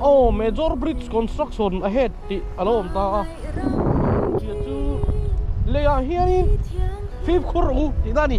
Aw major bridge construction ahead tih a lo awm ta a hmeichhia chu leiah hianin fifth khur u tih na a ni.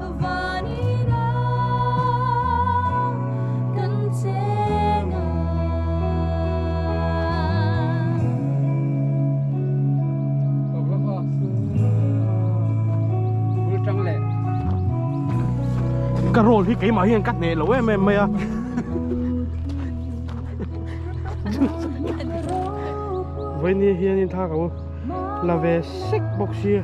Ka role hi keimah hian ka hneh loh em em mai a Vawinia hianin tha ka hmu la ve sek bawk si a.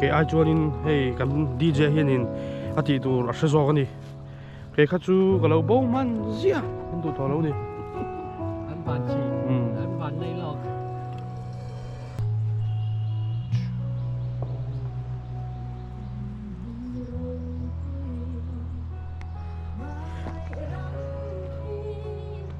kei ai chuanin hei kan DJ hianin a tih tur a hre zawk a ni kei kha chu ka lo bo hman zia kan duh tawh lo ni an ban chi an ban nei lawk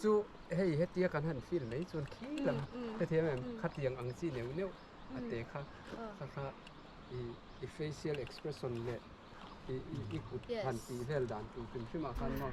Chu hei hetia kan han feel mai chuan khil ang hrethiam em khatiang ang chi neuh neuh a te kha kha kha i i facial expression leh i i kut han tih vel dan tur hrim hrim ah khan maw.